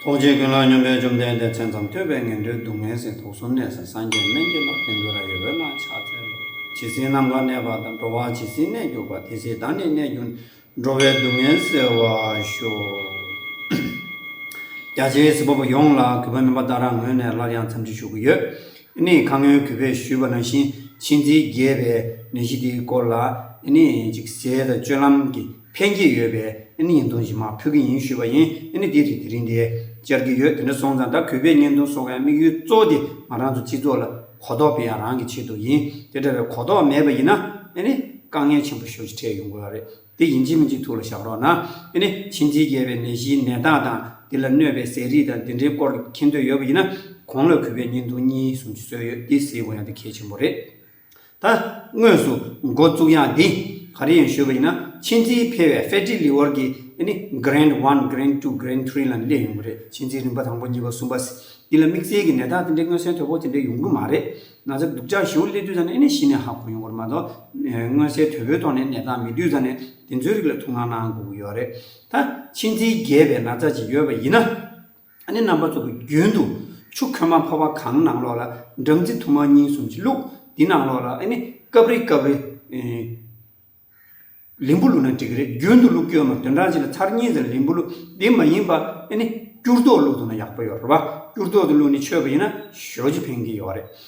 ཐུགས་རྗེ་ཀུན་ལ་སྙོམས་པའི་བཅོམ་ལྡན་འདས་མཚན་ཙམ་ཐོས་པས་ངན་འགྲོའི་སྡུག་བསྔལ་ཟད་དུག་གསུམ་གནས་ས་སངས་རྒྱས་སྨན་གྱི་ལག་པས་འདུལ་ར་ཡི་འོད་སྣང་ཕྱག་འཚལ་ལོ། ཇི་སྲིད་ནམ་མཁའ་གནས་པ་དང་འགྲོ་བ་ཇི་སྲིད་གནས་གྱུར་པ་དེ་སྲིད་བདག་ནི་གནས་གྱུར་ནས་འགྲོ་བའི་སྡུག་བསྔལ་སེལ་བར་ཤོག། རྒྱ་ཆེའི་སྲིད་པ་པོ་ཡོངས་ལ་གུས་པ་སྨོན་པ་ལྟར་རང་ངོས་ནས་སླར་ཡང་འཚམས་འདྲི་ཞུ་གི་ཡོད། ནི་ཁ་སྔོན་གུས་པས་ཞུས་པ་ནང་བཞིན་ཕྱིན་ཚིག་རྒྱས་པའི་ནད་གཞི་དེའི་སྐོར་ལ་ནི་ཅིག་ཟས་དང་སྤྱོད་ལམ་གྱི་ཕན་གྱི་ཡོད་པས་ཨེ་ནི་ཡིན་དོན་བཞིན་མ་ཕུལ་གྱི་ཡིན་ཞུས་པ་ཡིན་ཨེ་ནི་དེ་རིང་དེ་རིང་དེ་བཅར་གྱི་ཡོད་དེ་འདྲ་སོང་ཙང་ད་གུས་པས་བརྙན་ཐུང་སོགས་ཡང་དམིགས་ཡུལ་གཙོ་བོ་དེ་ང་རང་ཚོ་སྤྱི་ཚོགས་ལ་གོ་རྟོགས་སྤེལ་ཡང་རང་གི་ཆེད་དུ་ཡིན་དེ་འདྲ་བའི་གོ་རྟོགས་མེད་པ་ཡིན་ན་ཨེ་ནི་དཀའ་ངལ་ཆེན་པོ་ཤོར་ཅི་འཕྲད་ཡོང་དགོས་ཡག་རེད་དེ་ཡིན་ཅི་མིན་ཅི་ཐུགས་ལ་བཞག་རོགས་གནང་ཨེ་ནི་ཕྱི་འཛིན་རྒྱས་པའི་ནད་གཞིའི་ནད་རྟགས་དང་དེ་ལ་གནོད་པའི་ཟས་རིགས་དང་དེ་འདྲའི་སྐོར་མཁྱེན་འདོད་ཡོད་པ་ཡིན་ན་གོང་ལ་གུས་པས་བརྙན་ཐུང་གཉིས་གསུམ་བཟོས་ཡོད་དེ་གཟིགས་དགོས་ཡང་དེ་གལ་ཆེན་པོ་རེད། ད་དངོས་སུ་འགོ་བཙུགས་ཡང་འདི་ག་རེ་ཡིན་ཞུས་པ་ཡིན་ན་ཕྱི་འཛིན་ཕལ་བའི་ཧྥེ་ཏྲི་ལི་ཝར་གྱི་ནི Grand One Grand Two Grand Three ལ་ནི་སླེབས་ཡོང་གི་རེད་ཕྱི་འཛིན་རིམ་པ་དང་པོ་གཉིས་པ་གསུམ་པ་འདི་ལ་དམིགས་བསལ་གྱི་ནད་རྟགས་དེ་འདྲའི་མངོན་གསལ་དོད་པོ་དེ་འདྲ་ཡོང་གི་མ་རེད། ན་ཚ་སྡུག་ཅག་ཞེའུ་ལེ་དུས་ཙམ་ནས་ནི་གཞི་ནས་ཧ་གོ་ཡོང་གི་རེད་མ་གཏོགས་མངོན་གསལ་དོད་པོའི་ཐོག་ནས་ནད་རྟགས་མེད་དུས་ཙམ་ནས་དེ་ཚོའི་རིགས་ལ་ཐུགས་སྣང་གནང་དགོས་ཀྱི་ཡོད་རེད། ད་ཕྱི་འཛིན་རྒྱས་པའི་ན་ཚ་ཞིག་ཡོད་པ་ཡིན་ན། ཨ་ནི་རྣམ་པར་རྫོགས་པའི་རྒྱུན་དུ་ཆུ་ཁོལ་མ་འཕོ་བ་གང་ནང་ལོགས་ལ་སྦྲང་རྩི་དུ་མ་གཉིས་གསུམ་གྱིས་བླུག། དེ་ནང་ལོགས་ལ་ཨ་ནི་སྐབས་རེ་སྐབས་རེ། ལིམ་བུ་བླུགས་ན་འགྲིག་གི་རེད་རྒྱུན་དུ་བླུག་ཀྱོ་མ་དོན་གྲངས་གཅིག་ལ་ཚར་གཉིས་ཙམ་ལིམ་བུ་བླུག་དེ་མ་ཡིན་པ་ཨ་ནི་སྐྱུར་ཏོག་བླུག་འདུག་ན་ཡག་པོ་ཡོད་རེད་བ་སྐྱུར་ཏོག་དེ་བླུག་ནས་ཆོད་པ་ཡིན་ན་ཞོ་ཅི་ཕན་གི་ཡོད་རེད་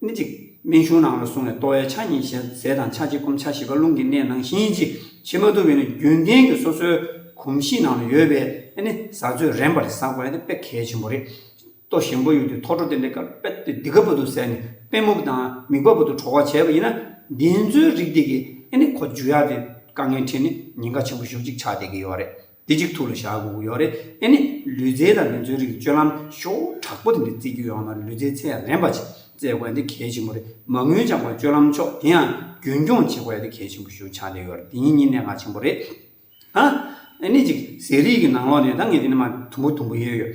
སྨིན་ཅིག། སྨན་གཞུང་ནང་ལ་བཟུང་ནས་ལྟོ་བའི་ཆ་གཉིས་ཞལ་ཟས་དང་ཆ་གཅིག་སྐོམ་ཆ་བཞི་པ་རླུང་གི་གནས་ནང་བཞིན་གྱི་ཕྱི་མ་དུ་བས་ནི་རྒྱུན་གཏན་གྱི་སོ་སོའི་གོམས་གཤིས་ནང་ལ་ཡོད་པས་ནི་ཟ་ཚོད་རན་པར་ཟ་དགོས་ན་དཔེ་གལ་ཆེན་པོ་རེད། ལྟོ་ཞིམ་པོ་ཡོད་དུས་ཐོ་ཁྲོ་དེ་འདྲའི་ཀརཔེད་དེ་འདི་ག་པོ་དུ་ཟས་ནས་པད་མུག་དང་མིག་པ་པོ་དུ་གྲོ་བ་བྱས་པ་ཡིན་ན་འདི་ཚོའི་རིགས་དེ་གིས་ནི་ཁོ་འཇུ་ཡག་དེ་དཀའ་ངལ་འཕྲད་ནས་ཉེན་ཁ་ཆེན་པོ་ཞུགས་ཅིག་ཆགས་བསྡད་ཀྱི་ཡོད་རེད། འདི་གཅིག་ཐུགས་ལ་བཞག་དགོས་ཀྱི་ཡོད་རེད་ཨེ་ནི། ལུས་རྩལ་དང་ལུས་མཛོད་རིགས་ཀྱི་སྤྱོད་ལམ་ཤོག་བུ་དྲག་པོ་དེ་འདྲ་བརྩི་རྒྱུ་ཡོང་ན་ལུས་རྩལ་ཚད་རན་པ་ཞིག་བཙལ་དགོས་འདི་གལ་ཆེན་པོ་རེད་མ་དངུལ་བྱང་བའི་སྤྱོད་ལམ་ཕྱོགས་དེ་ཡང་རྒྱུན་འཁྱོངས་བྱེད་དགོས་འདི་གལ་ཆེན་པོ་ཞུ་འཆར་ལེ་ཡོད་རེད་འདི་གཉིས་གཉིས་གནད་འགག་ཆེན་པོ་རེད། ཨ་ཨེ་ནི་གཅིག་ཟས་རིགས་ཀྱི་ནང་ལོགས་ནས་ད་ངས་འདི་ནས་མ་དུམ་བུ་དུམ་བུ་ཡོད་ཡོད།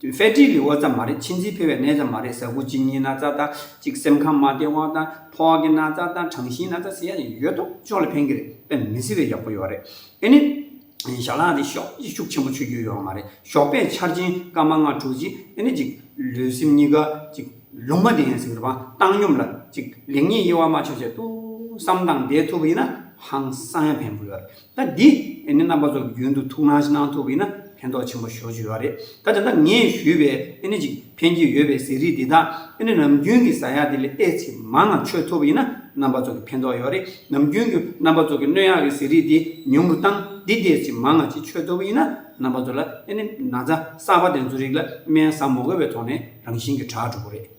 དོན་ཧྥེ་ཀྲི་ལི་ཨོ་ཙམ་མ་རེད་ཕྱི་འཛིན་འཕེལ་བའི་གནས་ཙམ་མ་རེད་ཟ་ཁུ་གཅིག་གཉིས་ན་ཙ་དང་གཅིག་སེམས་ཁམས་མ་བདེ་བ་དང་ཕོ་བ་གི་ན་ཙ་དང་གྲངས་གཞིའི་ན་ཙ་ཟེར་ཡ་ནི་ཡོད་དོ་ཅོག་ལ་ཕན་གི་རེད་དཔེ་མི་སྲིད་པའི་ཡག་པོ་ཡོད་རེད་ཨེ་ནི། ཞྭ་ལག་དེ་ཤོག་ཅིག་ཤུགས་ཆེན་པོ་ཆུད་རྒྱུ་ཡོད་མ་རེད་ཞོགས་པས་ཆར་ཆེན་སྐར་མ་ལྔ་དྲུག་ཅིག་ཨེ་ནི་ཅིག་ལུས་སེམས་གཉིས་ཀ་ཅིག་ལུང་མ་བདེ་ཡང་ཟིག་རི་བང་བཏང་སྙོམས་ལ་ཅིག་ལེགས་ཉེས་དབྱེ་བ་མ་ཆོད་ཆེད་ཏུ་བསམ་སྟངས་བདེ་ཐུབ་ཡིན་ན་ཧང་སང་ཡང་ཕན་པོ་ཡོད་རེད། ད་འདི་ནི་རྣམ་པ་ཚོགས་ཀྱི་རྒྱུན་དུ་ཐུགས་སྣང་གནང་ཐུབ་པས་ན་ཕན་ཐོགས་ཆེན་པོ་ཞོག་ཅེས་བརྗོད་པ་རེད། ད་དེ་འདྲ་ངས་ཞུས་པའི་ཨེ་ནི་ཅིག་ཕན་གྱི་ཡོད་པའི་ཟས་རིགས་འདི་དག་ཨེ་ནི་ནམ་རྒྱུན་གྱི་ཟ་ཡག་འདི་ལས་ཨེ་ཚེ་མང་ངང་མཆོད་ཐུབ་པས་ན་རྣམ་པ་ཚོགས་ཀྱི་ཕན་ཐོགས་ཡོད་རེད། ནམ་རྒྱུན་གྱི་རྣམ་པ་ཚོགས་ཀྱི་སྣོད་ཡག་གི་ཟས་རིགས་འདི་ཉུང་རུ་བཏང་འདི་དེ་ཚེ་མང་ངང་ཅིག་མཆོད་ཐུབ་པས་ན་རྣམ་པ་ཚོགས་ལ་ཨེ་ནི་ན་ཚ་གསར་པ་དེ་ཚོ་རིགས་ལ་སྨན་བཟང་མོ་དགོས་པའི་ཐོག་ནས་རང་བཞིན་གྱི་དྲག་གྲུབ་པོ་རེད།